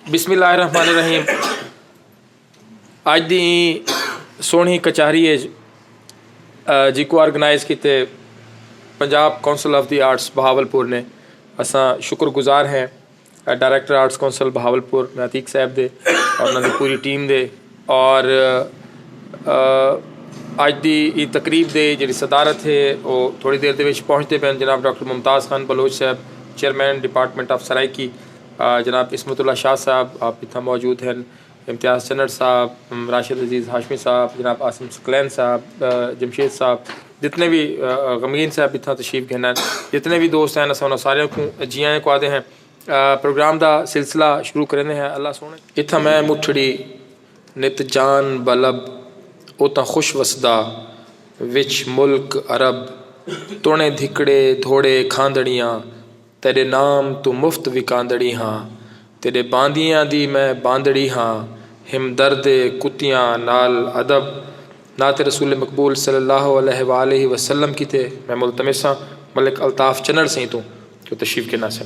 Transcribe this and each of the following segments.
بسم اللہ الرحمن الرحیم اج دی سونی کچہری ہے جی کو آرگنائز کیتے Punjab council of the arts Bahawalpur نے اساں شکر گزار ہیں director arts council Bahawalpur Natiq صاحب دے اور انہاں دی پوری ٹیم دے اور اج دی ای تقریب دے جڑی صدارت ہے وہ تھوڑی دیر دے وچ پہنچتے پہن جناب ڈاکٹر ممتاز خان بلوچ صاحب چیئرمین ڈپارٹمنٹ آف سرائیکی جناب عصمت اللہ شاہ صاحب آپ اتھاں موجود ہیں امتیاز چنڑ صاحب راشد عزیز ہاشمی صاحب جناب عاصم ثقلین صاحب جمشید صاحب جتنے بھی غمگین صاحب اتھاں تشریف گھنن جتنے بھی دوست ہیں اساں انہاں ساریاں کوں جی آیاں کو آدھے ہیں پروگرام دا سلسلہ شروع کریندے ہیں اللہ سونے اتھاں میں مٹھڑی نت جان بلب اوتاں خوش وسدا وچ ملک عرب تونے دھکڑے دھوڑے کھاندڑیاں تیݙے نام توں مفت وکاندڑی ہاں تیݙے باندیاں دی میں باندڑی ہاں ہمدردے کتیاں نال ادب نعت رسول مقبول صلی اللہ علیہ و آلہ و سلم کیتے میں ملتمس ہاں ملک الطاف چنڑ سئیں توں جو تشریف گھن آسن۔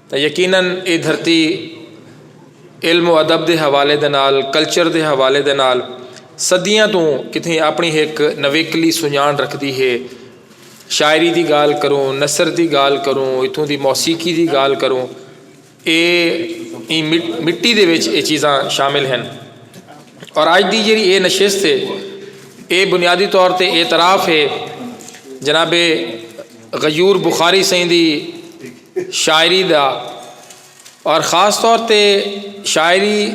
تاں یقینا ایہ دھرتی علم و ادب دے حوالے دے نال کلچر دے حوالے دے نال صدیاں توں کتھیں اپݨی ہک نویکلی سنڄاݨ رکھدی ہے۔ شاعری دی ڳالھ کروں، نثر دی ڳالھ کروں، اتھوں دی موسیقی دی ڳالھ کروں اے ایں مٹی دے وچ اے چیزاں شامل ہن۔ اور اڄ دی جیڑھی اے نشست ہے اے بنیادی طور تے اعتراف ہے جناب غیور بخاری سئیں دی۔ شاعری دا اور خاص طور تے شاعری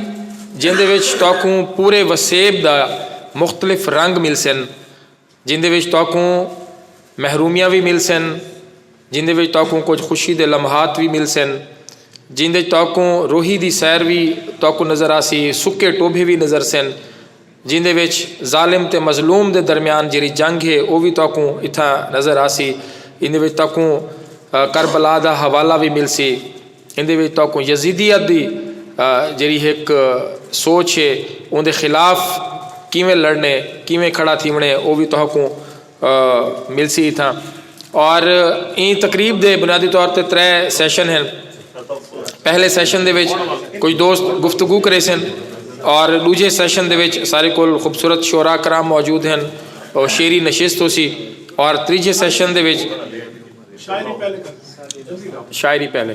جیندے وچ تہاکوں پورے وسیب دا مختلف رنگ ملسن جیندے وچ تہاکوں محرومیاں وی ملسن جیندے وچ تہاکوں کجھ خوشی دے لمحات وی ملسن جیندے وچ تہاکوں روہی دی سیر وی تہاکوں نظر آسی سکے ٹوبھے وی نظرسن جیندے وچ ظالم تے مظلوم دے درمیان جیرھی جنگ ہے او وی تہاکوں اتھا نظر آسی۔ ایندے وچ تہاکوں کربلا دا حوالہ وی ملسی۔ ایندے وچ تہاکوں یزیدیت دی جیرھی ہک سوچ ہے اوندے خلاف کیویں لڑݨے کیویں کھڑا تھیوݨے او وی تہاکوں ملسی اتھاں اور این تقریب دے بنیادی طور تے ترے سیشن ہیں پہلے سیشن دے وچ کچھ دوست گفتگو کرے سن اور دوجے سیشن دے وچ سارے کول خوبصورت شعرا کرام موجود ہیں اور شعری نشست ہو سی اور تریجے سیشن دے وچ شاعری پہلے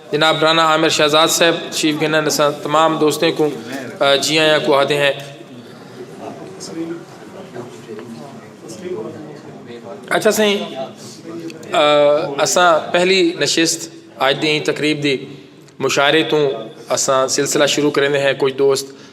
جناب رانا عامر شہزاد صاحب تشریف گھنن اساں تمام دوستیں کو جی آیاں کو آدھے ہیں اچھا سائیں اساں پہلی نشست آج دی تقریب دی مشاعرے توں اساں سلسلہ شروع کریندے ہیں کچھ دوست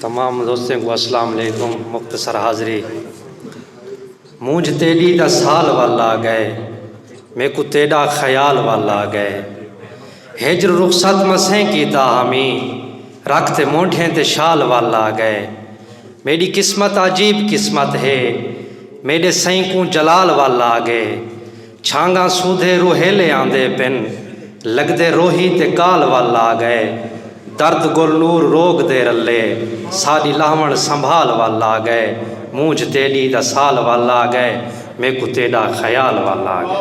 تمام دوستیں کو اسلام علیکم مختصر حاضری مونج تیڈی دا سال وال آ گئے میکو تیڈا خیال وال آ گئے ہجر رخصت مسیں کیتا ہمی رکھ تے مونڈھیں تے شال وال آ گئے میڈی قسمت عجیب قسمت ہے میڈے سئیں کوں جلال وال آ گئے چھانگاں سودھے روہیلے آندے پن لگدے روہی تے کال ول لا گئے درد گل نور روگ دے رلے ساڈی لاہوݨ سنبھال ول لا گئے مونجھ تیڈی دا سال ول لا گئے میکوں تیڈا خیال ول لا گئے۔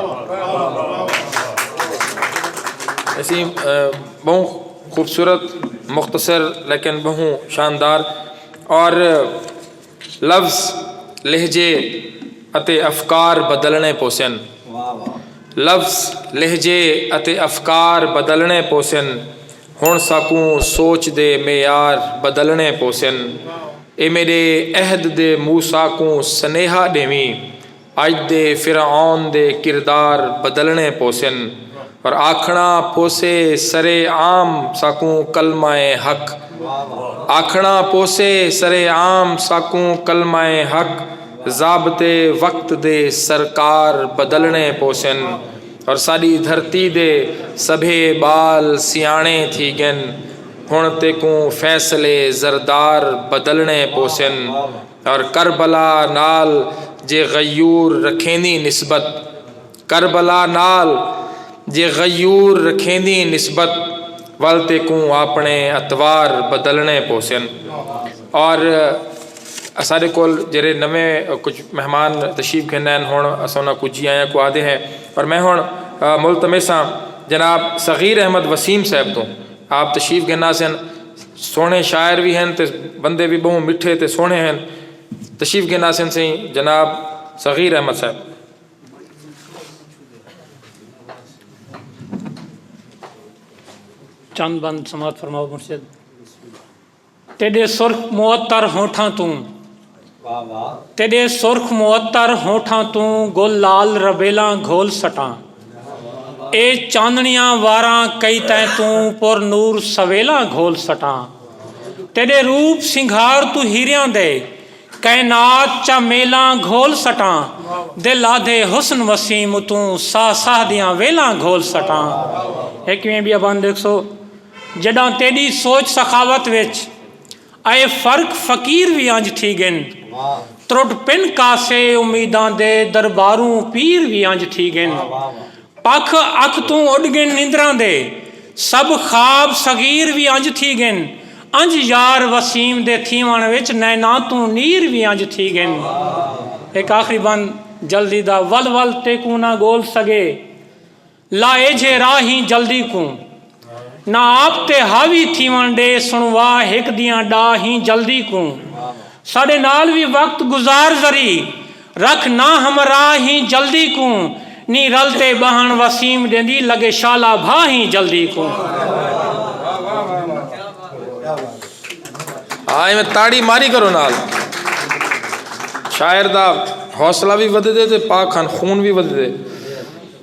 لفظ، لہجے اتے افکار بدلݨے پوسن۔ لفظ، لہجے اتے افکار بدلݨے پوسن۔ ہݨ ساکوں سوچ دے معیار بدلݨے پوسن۔ اے میݙے عہد دے موسیٰ کوں سنیہا ݙیویں۔ اج دے فرعون دے کردار بدلنڑے پوسن پر آکھنڑا پوسے سرے عام ساکوں کلمہ حق آکھنڑا پوسے سرے عام ساکوں کلمہ حق ضابطے وقت دے سرکار بدلنڑے پوسن اور ساڈی دھرتی دے سبھے بال سیانڑے تھی گن ہنڑ تیکوں فیصلے زردار بدلنڑے پوسن۔ اور کربلا نال جے غیور رکھیندی نسبت کربلا نال جے غیور رکھیندی نسبت ول تیکوں آپݨے اطوار بدلݨے پوسن اور اساݙے کول جیرھے نویں کجھ مہمان تشریف گھن آئن ہݨ اساں انہاں کوں جی آیاں کوں آہدے ہیں پر میں ہݨ ملتمس ہاں جناب صغیر احمد وسیم صاحب توں آپ تشریف گھن آسن سونے شاعر وی ہن تے بندے وی بہوں مٹھے تے سونے ہن تشریف گھن آسن سیں جناب صغیر احمد صاحب چند بند سماعت فرماؤ مرشد تیݙے سرخ معطر ہونٹھاں توں تیݙے سرخ معطر ہونٹھاں توں گل لال ربیلاں گھول سٹاں اے چاندݨیاں واراں کئی تیں توں پر نور سویلاں گھول سٹاں تیݙے روپ سنگھار توں ہیریاں دے کائنات چا میلاں گھول سٹاں دل آدھے حسن وسیم اتوں ساہ ساہ دیاں ویلاں گھول سٹاں۔ جݙاں تیݙی سوچ سخاوت وچ اے فرق فقیر وی انج تھی ڳن ترٹ پن کاسے امیداں دے درباروں پیر وی انج تھی ڳن پکھ اکھ توں اݙ ڳن نندراں دے سب خواب صغیر وی انج تھی ڳن انج یار وسیم دے تھیوݨ وچ نیناں توں نیر وی انج تھی ڳن ہک آخری بند جلدی دا ول ول تیکوں نہ ڳول سڳے۔ لائے جھے راہیں جلدی کوں نہ آپ تے حاوی تھیوݨ ݙے سݨوا ہک دیاں ݙا ہیں جلدی کوں ساݙے نال وی وقت گزار ذری رکھ نہ ہمرا ہیں جلدی کوں نی رل تے ٻہݨ وسیم ݙیندی لڳے شالا بھا ہیں جلدی کوں۔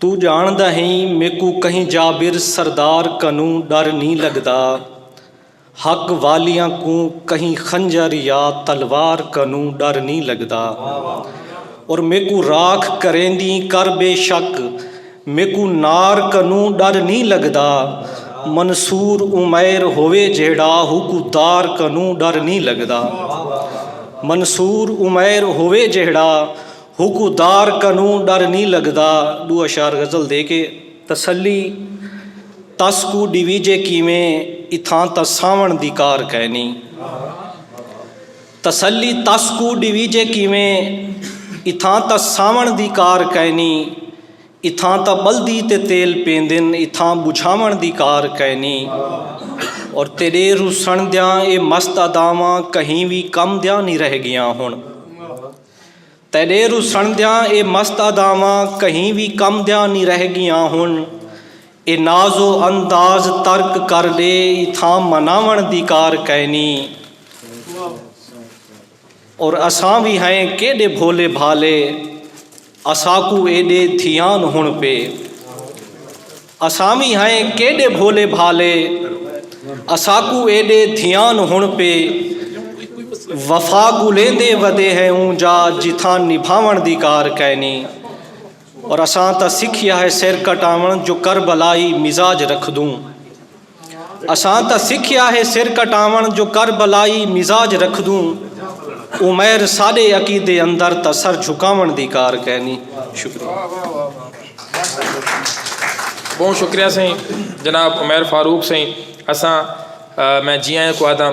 توں ڄاݨدا ہیں میکوں کہیں جابر سردار کنوں ݙر نی لڳدا حق والیاں کوں کہیں خنجر یا تلوار کنوں ݙر نی لڳدا اور میکوں راکھ کریندیں کر بے شک میکوں نار کنوں ݙر نی لڳدا منصور عمیر ہووے جیہڑا ہوکوں دار کنوں ݙر نی لڳدا منصور عمیر ہووے جیہڑا ہوکوں دار کنوں ڈر نی لگدا ڈو اشعار غزل دے کے تسلی تس کوں ڈیویجے کیویں اتھاں تاں ساوݨ دی کار کائنی تسلی تس کوں ڈیویجے کیویں اتھاں تاں ساوݨ دی کار کائنی اتھاں تاں ٻلدی تے تیل پیندن اتھاں ٻجھاوݨ دی کار کائنی اور تیݙے روسݨ دیاں اے مست اداواں کہیں وی کم دیاں نی رہ ڳیاں ہݨ تیݙے رسݨ دیاں اے مست اداواں کہیں وی کم دیاں نی رہ ڳیاں ہن اے ناز و انداز ترک کر ݙے اتھاں مناوݨ دی کار کائنی اور اساں وی ہئیں کیݙے بھولے بھالے اساکوں ایݙے دھیان ہݨ پئے۔ اساں وی ہئیں کیݙے بھولے بھالے اساکوں ایݙے دھیان ہݨ پئے وفا ڳولیندے ودے ہیں اوں جا جتھاں نبھاوݨ دی کار کائنی اور اساں تاں سکھیا ہے سر کٹاوݨ جو کربلائی مزاج رکھدوں۔ اساں تاں سکھیا ہے سر کٹاوݨ جو کربلائی مزاج رکھدوں عمیر ساݙے عقیدے اندر تاں سر جھکاوݨ دی کار کینی شکریہ بہوں شکریہ سئیں جناب عمیر فاروق سئیں اساں میں جی آئیں کو آدھاں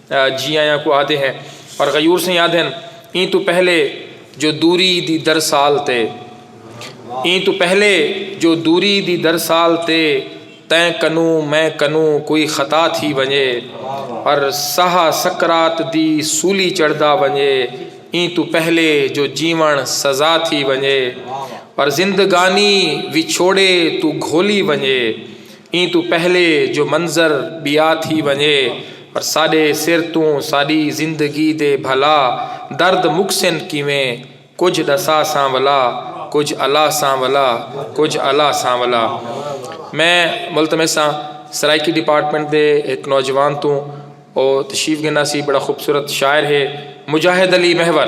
جی آیاں کوں آہدے ہیں اور غیور سئیں آدھن ایں تو پہلے جو دوری دی درسال تے ایں تو پہلے جو دوری دی درسال تے تیں کنوں میں کنوں کوئی خطا تھی ونجے اور سہا سکرات دی سولی چڑھدا ونجے ایں تو پہلے جو جیون سزا تھی ونجے اور زندگانی وچھوڑے تو گھولی ونجے ایں توں پہلے جو منظر ٻیا تھی ونڄے پر ساݙے سر توں ساݙی زندگی دے بھلا درد مکسن کیویں کجھ ݙسا سانولا کجھ الا سانولا کجھ الا سانولا میں ملتمس ہاں سرائیکی ڈیپارٹمنٹ دے ہک نوجوان توں او تشریف گھن آسی بڑا خوبصورت شاعر ہے مجاہد علی محور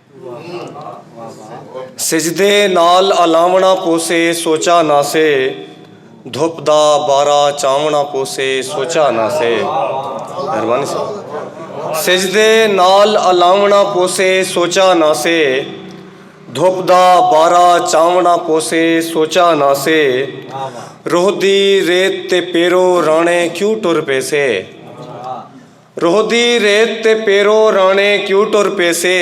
سجدے نال الاونڑاں پوسے سوچا نہ سے دھپ دا بارہ چاونڑاں پوسے سوچا نہ سے مہربانی صاحب سجدے نال الاونڑاں پوسے سوچا نہ سے دھپ دا بارہ چاونڑاں پوسے سوچا نہ سے روح دی ریت تے پیرو رانے کیوں ٹر پیسے روہدی ریت تے پیرو راݨے کیوں ٹر پیسے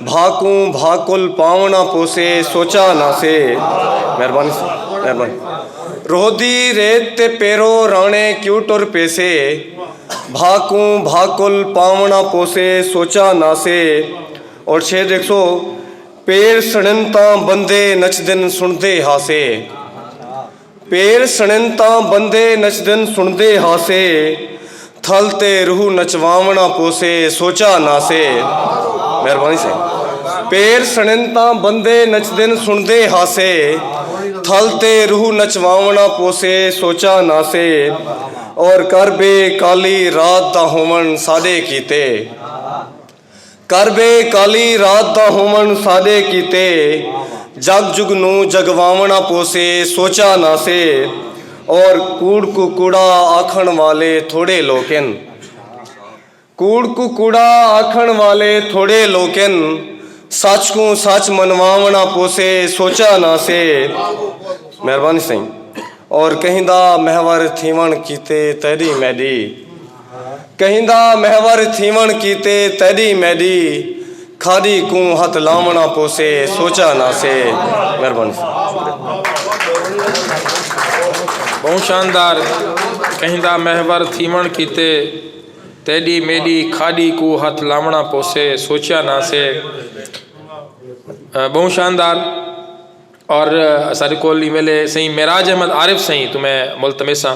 بھا کوں بھا کل پاوݨا پوسے سوچا نہ سے مہربانی مہربانی روہدی ریت تے پیرو راݨے کیوں ٹر پیسے بھا کوں بھا کل پاوݨا پوسے سوچا نہ سے اور شعر دیکھ سو پیر سڑن تاں بندے نچدن سݨدے ہاسے پیر سݨن تاں بندے نچدن سݨدے ہاسے تھل تے روح نچواوݨا پوسے سوچا ناسے مہربانی سائیں پیر سݨن تاں بندے نچدن سݨدے ہاسے تھل تے روح نچواوݨا پوسے سوچا ناسے اور کر بے کالی رات دا ہووݨ ساݙے کیتے کر بے کالی رات دا ہوون ساڈے کیتے جگ جگ نوں جگواون آپوسے سوچا نہ سے اور کوڑ کوں کوڑا آکھن والے تھوڑے لوکن کوڑ کوں کوڑا آکھن والے تھوڑے لوکن سچ کوں سچ منواون آپوسے سوچا نہ سے مہربانی سائیں اور کہیں دا محور تھیون کیتے تیڈی میڈی کہیندا محور تھیوݨ کیتے تیݙی میݙی کھاݙی کوں ہتھ لاوݨا پوسے سوچا نہ سے مہربانی بہوں شاندار کہیندا محور تھیوݨ کیتے تیݙی میݙی کھاݙی کوں ہتھ لاوݨا پوسے سوچا نہ سے بہوں شاندار اور اساݙے کول ایں ویلے سئیں معراج احمد عارف سئیں توں میں ملتمس ہاں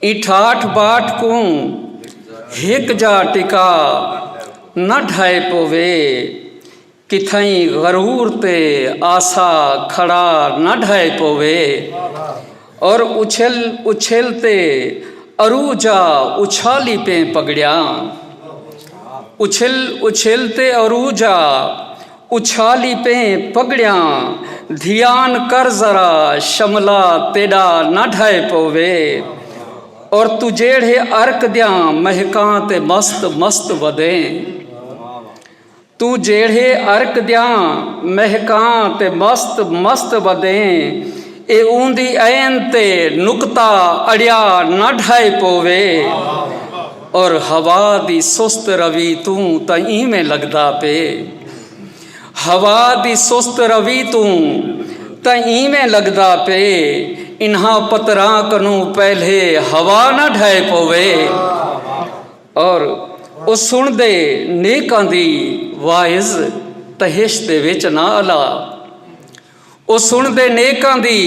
ایں ٹھاٹھ باٹھ کوں ہک جا ٹکا نہ ڈھائے پووے کتھائیں غرور تے آسا کھڑا نہ ڈھائے پووے اور اچھل اچھل تے ارو جا اچھالی پیں پگڑیاں اچھل اچھل تے ارو جا اچھالی پئیں پڳڑیاں دھیان کر ذرا شملہ تیݙا نہ ڈھہہ پووے اور توں جیڑھے عرق دیاں مہکاں تے مست مست ودیں توں جیڑھے عرق دیاں مہکاں تے مست مست ودیں اے اوندی عین تے نقطہ اڑیا نہ ڈھہہ پووے۔ اور ہوا دی سست روی توں تاں ایویں لگدا پے۔ ہوا دی سست روی توں تاں ایویں لگدا پے انہاں پتراں کنوں پہلے ہوا نہ ڈھہے پووے۔ اور او سنڑدے نیکاں دی واعظ تہشت دے وچ نہ الا۔ او سن دے نیکاں دی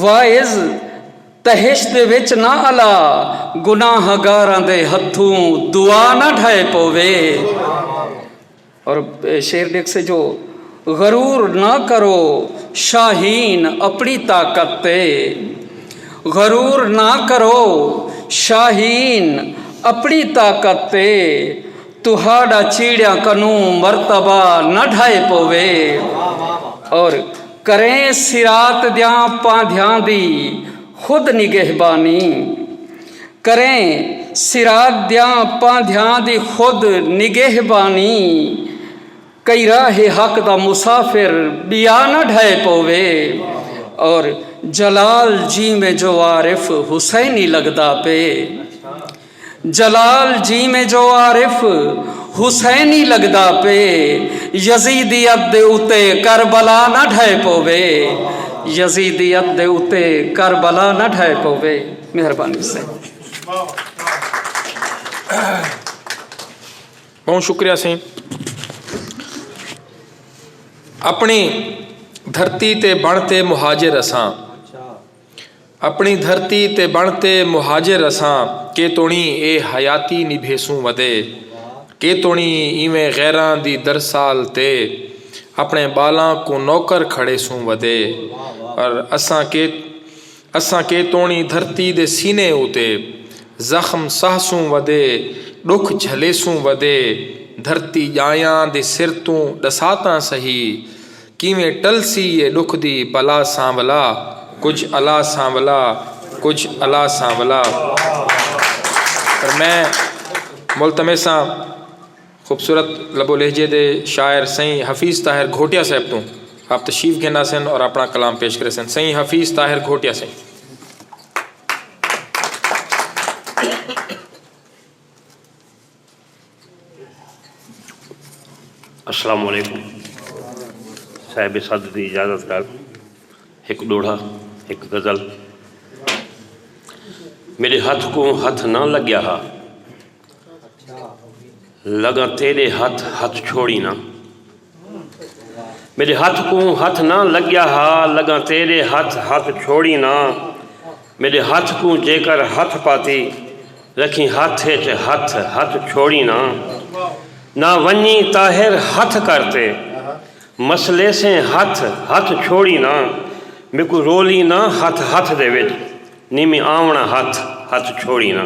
واعظ تہشت وچ نہ الا گناہ گاراں دے ہتھوں دعا نہ ڈھائے پووے اور شیر ڈیکھ سے جو غرور نہ کرو شاہین اپنی طاقت تے غرور نہ کرو شاہین اپنی طاقت تے تہاڈا چیڑیاں کنوں مرتبہ نہ ڈھائے پووے اور کریں صراط دیاں پاندھیاں دی خود نگہبانی کریں صراط دیاں پاندھیاں دی خود نگہبانی کئی راہ حق دا مسافر بیا نہ ڈھائے پووے اور جلال جیویں جو عارف حسینی لگدا پے۔ جلال جیویں جو عارف حسینی لگدا پئے یزیدیت دے اتے کربلا نہ ڈھہہ پووے یزیدیت دے اتے کربلا نہ ڈھہہ پووے مہربانی سائیں بہوں شکریہ سائیں اپنی دھرتی تے بن تے مہاجر اساں اپݨی دھرتی تے بݨ تے مہاجر اساں کے توݨیں اے حیاتی نبھیسوں ودے کے توݨیں ایویں غیراں دی درسال تے اپݨے ٻالاں کوں نوکر کھڑیسوں ودے پر اساں کے اساں کے توݨیں دھرتی دے سینے اتے زخم سہسوں ودے ݙکھ جھلیسوں ودے دھرتی ڄایاں دے سر توں ݙساتاں سہی کیویں ٹلسی اے ݙکھ دی بلا سانولا کجھ الا سانولا کجھ الا سانولا پر میں ملتمساں خوبصورت لب و لہجے دے شاعر سئیں حفیظ طاہر گھوٹیا صاحب توں آپ تشریف گھن آسن اور اپنا کلام پیش کریسن سئیں حفیظ طاہر گھوٹیا سئیں السلام علیکم صاحب صدر دی اجازت نال ہک ڈوہڑا ہک غزل میرے ہتھ کو ہتھ نہ لگیا ہا لگا تیرے ہتھ ہتھ چھوڑی نہ میݙے ہتھ کوں ہتھ نہ لڳیا ہا لڳاں تیݙے ہتھ ہتھ چھوڑیں نا میݙے ہتھ کوں جیکر ہتھ پاتی رکھیں ہتھ اچ ہتھ ہتھ چھوڑیں نا نہ ونڄیں طاہر ہتھ کر تے مس لیسیں ہتھ ہتھ چھوڑیں نا میکوں رولیں نا ہتھ ہتھ دے وچ نی میں آوݨاں ہتھ ہتھ چھوڑیں نا۔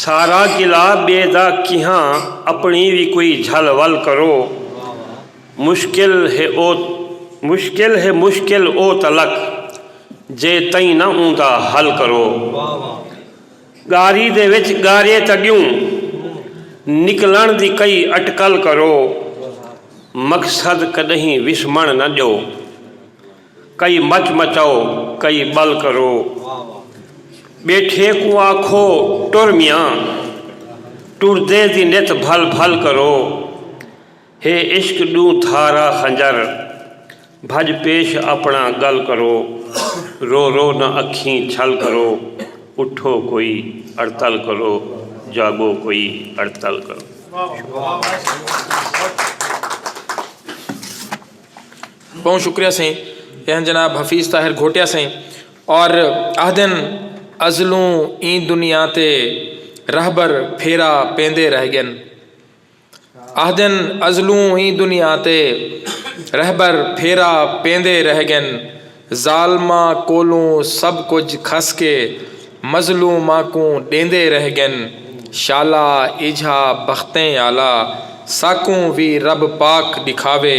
سارا قلعہ بے دا کیہاں اپنی وی کوئی جھل ول کرو مشکل ہے او مشکل ہے مشکل او تلک جے تئیں نہ اوندا حل کرو ڳاری دے وچ ڳارے تݙیوں نکلݨ دی کئی اٹکل کرو مقصد کݙہیں وسمݨ نہ ݙیو۔ کئی مچ مچاؤ کئی ٻل کرو۔ ٻیٹھیں کوں آکھو ٹر میاں ٹردیں دی نت بھل بھل کرو۔ ہے عشق ݙوں دھارا خنجر بھڄ پیش اپݨا ڳل کرو۔ رو رو نہ اکھیں چھل کرو اٹھو کوئی اڑتل کرو جاڳو کوئی اڑتل کرو۔ بہوں شکریہ سئیں اہن جناب حفیظ طاہر گھوٹیا سئیں اور آہدن ازلوں این دنیا تے رہبر پھیرا پیندے رہ گن آہدن ازلوں این دنیا تے رہبر پھیرا پیندے رہ گن ظالماں کولوں سب کجھ کھس کے مظلوماں کوں ڈیندے رہ گن شالا ایجھا بختیں آلا ساکوں وی رب پاک ڈکھاوے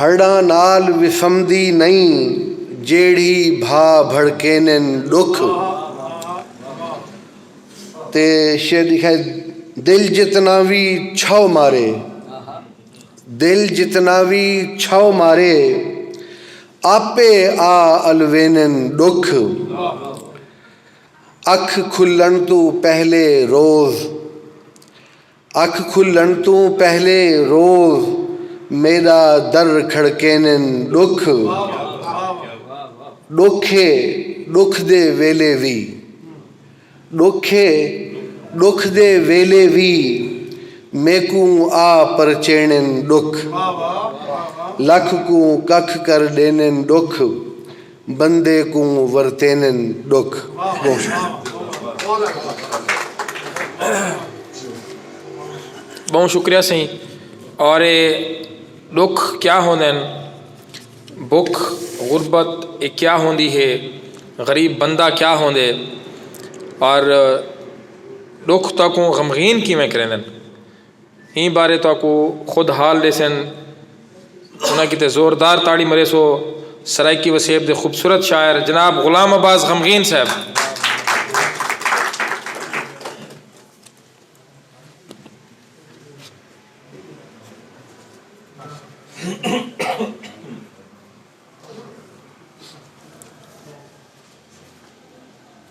ہڑاں نال وسمدی نئیں جیڑھی بھا بھڑکینن ڈکھ تے شعر دی خیر دل جتنا وی چھو مارے دل جتنا وی چھو مارے آپے آ الوینن ڈکھ اکھ کھلن توں پہلے روز اکھ کھلݨ توں پہلے روز میݙا در کھڑکینن ݙکھ ݙکھ اے ݙکھ دے ویلے وی ݙکھ اے ݙکھ دے ویلے وی میکوں آ پرچینن ݙکھ لکھ کوں ککھ کر ݙینن ݙکھ۔ بندے کوں ورتینن ڈکھ ڈوکھ۔ بہوں شکریہ سئیں اور اے ڈکھ کیا ہوندن بکھ غربت اے کیا ہوندی ہے غریب بندہ کیا ہوندے اور ڈکھ تاکوں غمغین کیویں کریندن۔ ایں بارے تہاکوں خود حال ݙیسن۔ انہاں کیتے زوردار تاڑی مریسو۔ سرائیکی وسیب دے خوبصورت شاعر جناب غلام عباس غمگین صاحب۔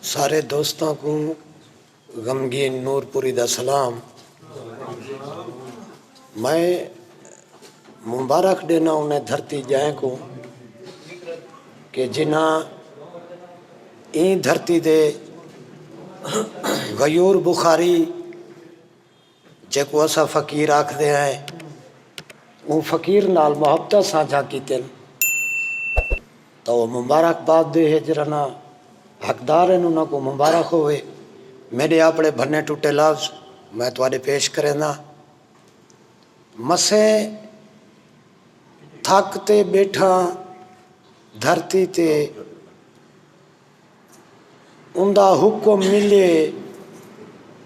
سارے دوستاں کوں۔ غمگین نور پوری دا سلام میں مبارخ ڈینا انہیں دھرتی جائیں کو کہ جنہاں این دھرتی دے غیور بخاری جیکوں اساں فقیر آکھدے ہیں اوں فقیر نال محبتاں سانجھاں کیتن تاں او مبارک باد دے ہج رنا حقدار ہن انہاں کوں مبارک ہووے میڈے آپڑے بھنے ٹٹے لفظ میں تہاڈے پیش کرینداں مسیں تھک تے بیٹھاں دھرتی تے اوندا حکم ملے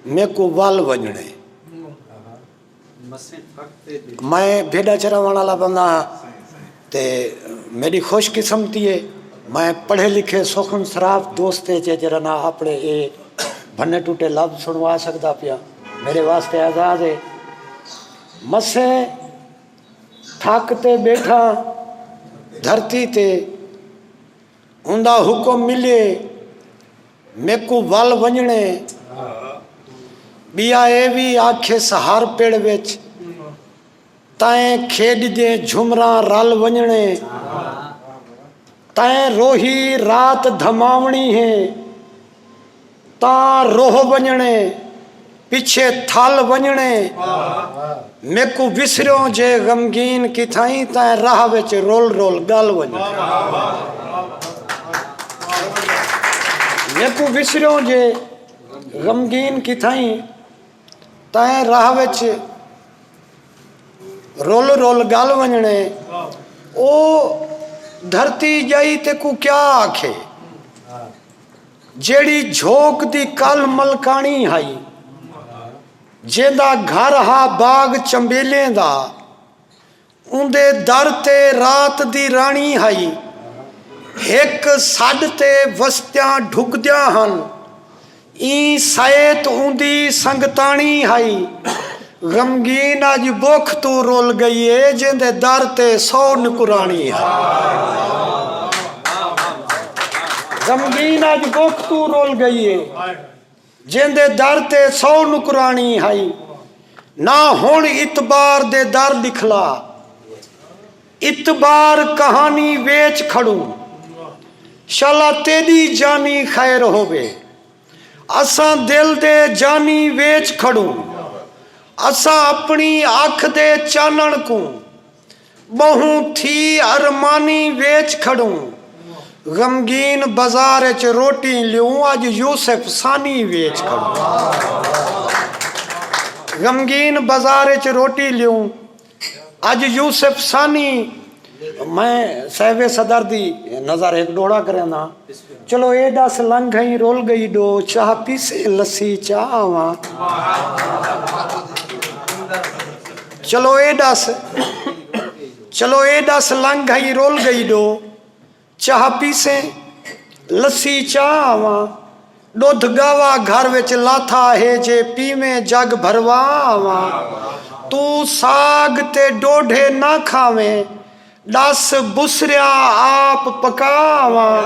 میکوں ول ونجنے میں بھیڈا چراون والا بندہ ہاں تے میری خوش قسمتی ہے میں پڑھے لکھے سخن سراف دوست ہے جرا نہ اپنے اے بھنے ٹوٹے لب سنوا سکدا پیا میرے واسطے آزاد ہے مسے تھک تے بیٹھا دھرتی تے ہوندا حکم ملیے میکوں ول ونجنڑے بیا اے وی آکھیس ہر پڑ وچ تائیں کھیڈ جے جھمراں رل ونجنڑے تائیں روہی رات دھماونڑی ہے تاں روہ ونڄݨے پچھے تھل ونڄݨے میکوں وسریوں جے غمگین کتھائیں تیں راہ وچ رول رول ڳل ونڄݨے میکوں وسریوں جے غمگین کتھائیں تیں راہ وچ رول رول ڳل ونڄݨے او دھرتی ڄائی تیکوں کیا آکھے جیڑھی جھوک دی کل ملکاݨی ہئی جیندا گھر ہا باغ چنبیلیں دا اوندے در تے رات دی راݨی ہئی ہک سݙ تے وستیاں ڈھکدیاں ہن ایں سئیت اوندی سنگتاݨی ہئی غمگین اج بکھ توں رل گئی اے جیندے در تے سو نکراݨی ہا۔ غمگین اج بکھ توں رل گئی اے جیندے در تے سو نکراݨی ہائی نہ ہݨ اتبار دے در ݙکھلا اتبار کہانی ویچ کھڑوں شالا تیݙی جانی خیر ہووے۔ اساں دل دے جانی ویچ کھڑوں۔ اساں اپݨی اکھ دے چانݨ کوں۔ ٻہوں تھی ارمانی ویچ کھڑوں۔ غمگین بازار اچ روٹی لیوں۔ اڄ یوسف ثانی ویچ کھڑوں۔ غمگین بازار اچ روٹی لیوں۔ اج یوسف ثانی میں صاحب صدر دی نظر ہک ڈوڑا کرینداں چلو اے ڈس لنگھ گھئیں رول گئی ڈو چاہ پیسیں لسی چا آواں چلو اے ڈس چلو اے ڈس لنگھ گھئیں رول گئی ڈو چاہ پیسیں لسی چاہ آواں ڈودھ گاوا گھر وچ لاتھا ہے جے پیویں جگ بھروا آواں توں ساگ تے ڈوڈھے نہ کھاویں ڈس بسریا آپ پکا آواں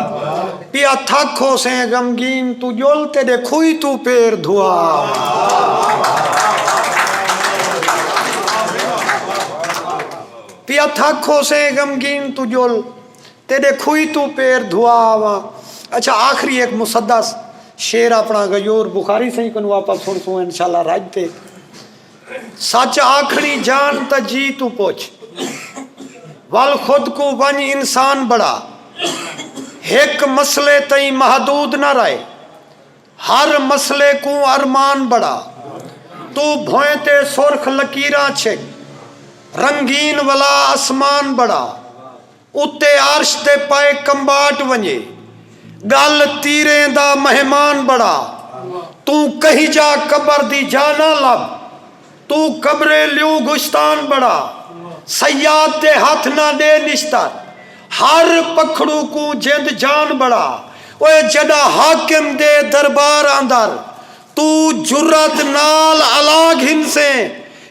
پیا تھک ہوسیں غمگین توں جل تیڈے کھوئی توں پیر دھوا آواں پیا تھک ہوسیں غمگین توں جل تیݙے کھوئی توں پیر دھوا آواں۔ اچھا آخری ہک مسدس شعر اپݨا غیور بخاری سئیں کنوں آپاں سݨسوں انشاءاللہ رڄ تے سچ آکھݨی جان تاں جی توں پچھ ول خود کوں ونڄ انسان بݨا ہک مسئلے تئیں محدود نہ رہ ہر مسئلے کوں ارمان بݨا توں بھوئیں تے سرخ لکیراں چھک رنگین ولا اسمان بݨا اتے عرش دے پائے کمباٹ ونڄے ڳل تیریں دا مہمان بݨا توں کہیں جا قبر دی جاہ نہ لبھ توں قبرے لیوں گشتان بڑا صیاد دے ہتھ نہ ڈے نشتر ہر پکھڑو کوں جند جان بڑا اوئے جڈا حاکم دے دربار اندر توں جرات نال الا گھنسیں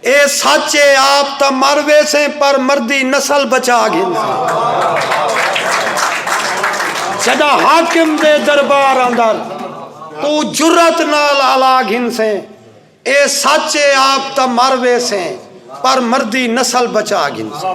اے سچ اے آپ تاں مر ویسیں پر مردی نسل بچا گھنسیں جڈا حاکم دے دربار اندر توں جرات نال الا گھنسیں۔ اے سچ اے آپ تاں مر ویسیں پر مردی نسل بچا گھنسیں۔